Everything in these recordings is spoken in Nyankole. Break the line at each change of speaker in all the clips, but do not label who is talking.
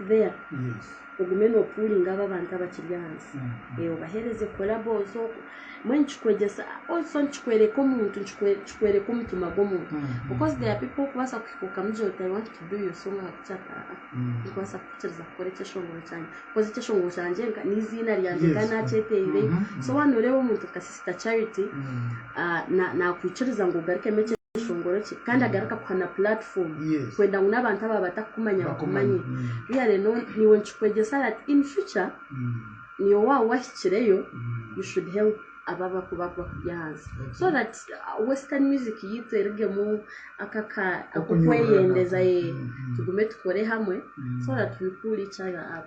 there
ogume no pullinga
abo abantu abakiri ahansi obahereze collabo zo mbwenu nikikwegyesa also nikikworeka omuntu nikikworeka omutima gwomuntu because there are people orikubaasa kuhika okamugira oti I want to do your song ahabwaki ati aa tikubaasa kukikiriza kukora ekyeshongoro kyangye coz ekyeshongoro kyangye neiziina ryangye kandi nakyeteire so waba noreeba omuntu nka sister charity nakwikiriza ngu ogarukemu ekishongoro kye kandi agaruka kuha na platform kwenda ngu n'abantu abaaba batakukumanya bakumanye. Really no niiwe nikikwegyesa that in future niiwe waaba wahikireyo you should help abo abakuba bakuri ahansi so that western music yaitu erugemu ako aka ak'okweyendeza yee tugume tukore hamwe so that we pull each other up.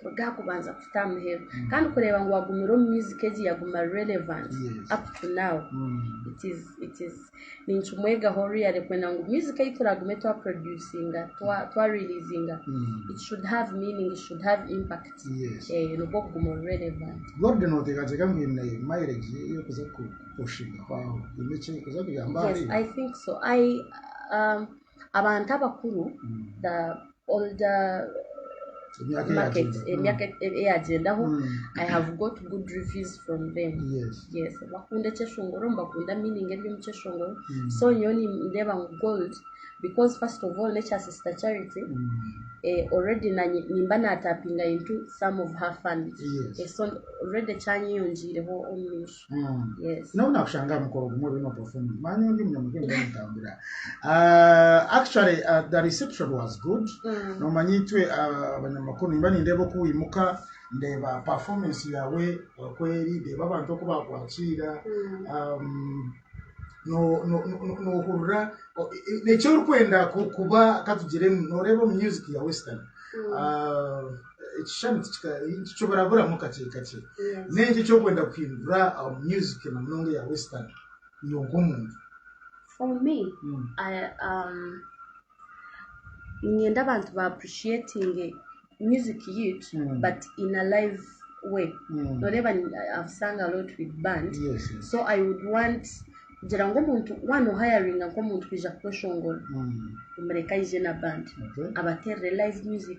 kuruga aha kubanza kuhitsya aha muheru kandi kureeba ngu wagumire omu music egi yaguma relevant up to now it is it is ninkimwegaho really kwenda ngu music ei turagume twa producinga twa twa releasinga it should have meaning it should have impact Yes. eh nibwo kuguma ori relevant Gordon oteekateeka
ngu eine mileage ye y'okuza ku- kupushingahwaho haine eki erikuza kuyamba yes ahari i think so
i um Abantu abakuru the older Emyaka market eyagyenda. emyaka eyagyendaho I have got good reviews from them Yes. yes bakunda ekyeshongoro nibakunda meaning eri omu kyeshongoro Mm. so nyowe nindeeba ngu gold because first of all n'ekya sister charity Mm. eh, already nanye nimba natapinga into some of her funds Yes. Eh, so already kyanyeyongiireho omu maisho Mm. Yes. Nyowe nakushanga aha mukoro
gumwe bino performing manya ondi munyamuhendo nitambira Ah, actually ah, the reception was good Mm. nomanya itwe ah, abanyamakuru nimba nindeeba oku wimuka ndeeba performance yawe okweri ndeeba abantu oku bakwakiira Mm. um, no- no- no- nohurira o- e- e- eki orikwenda ku- kuba katugiremu noreeba omu music ya western Mm. Ah, ekishushani tikika- tikiburaburamu kakye kakye Yes. n'enki eki orikwenda kuhindura aha music na munonga eya western iwe nk'omuntu For
me, Mm. I, um, niinyenda abantu ba appreciatinge music yitu Mm. but in a live way Mm. noreeba ni- I've sung a lot with band Yes, yes. so i would want kugira ngu omuntu waana ohayaringa nk'omuntu kwija kukweshongora Mm. omureka aije na band Okay. abateerere live music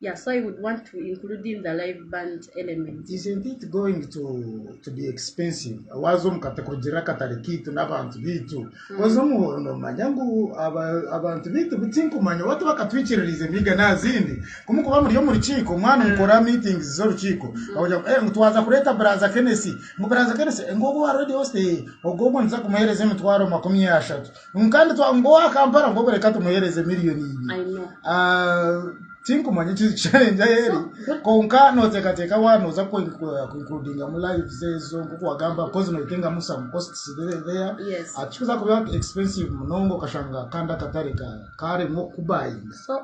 Yeah so I would want to include in the live band element. Isn't it going
to to be expensive waaza omu kata kurugiirira akatare kaitu n'abantu baitu oza omuhooro noomanya ngu aba- abantu baitu bu- tinkumanya oba tibakatwikiririize emihiga naazindi kumu kuba muri omu rukiiko mwaba nimukora meetings z'orukiiko bakugira ngu "Eh, ngu twaza kureeta buraaza kenesi ngu buraaza kenesi ngu ogwo wa radio host eh, ogwo ogwo nituza kumuheereza emitwaro makumi ashatu Nka nitwa ngu owa Kampala nk'obu reka tumuheereze miliyoni I ibiri. know. Ah,
tinkumanya eki
challenge ahi eri kwonka nooteekateeka wa nooza kuinkurudingamu lives ezo nk'oku wagamba because nooyetengamu some costs there there Yes. Ah, tikikuza kuba expensive munonga okashanga kandi akatare ka- kaaremwa okukubayinga So,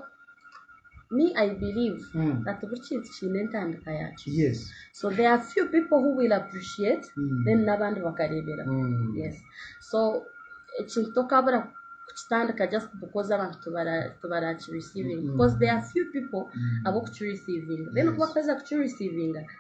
me I believe Mm. that buri kintu kiine entandika yaakyo yes so there are few people who will appreciate Mm. then n'abandi bakareebera Mm. yes so ekintu tokabura kukitandika just because abantu tibara- tibarakireceiving Mm. because there are few people Mm. ab'okukireceiving then Yes. kuba kuheza kukireceiving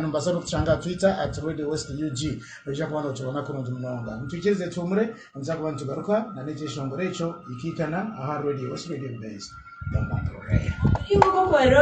Nobaasa n'okutushanga aha Twitter at Radio West UG. Noija kuba nookibona kurungi munonga. Mutwikirize tuhumure, nituza kuba nitugaruka n'ekyeshongoro ekyo hikaikana aha Radio West Radio Base. Mumpantuure.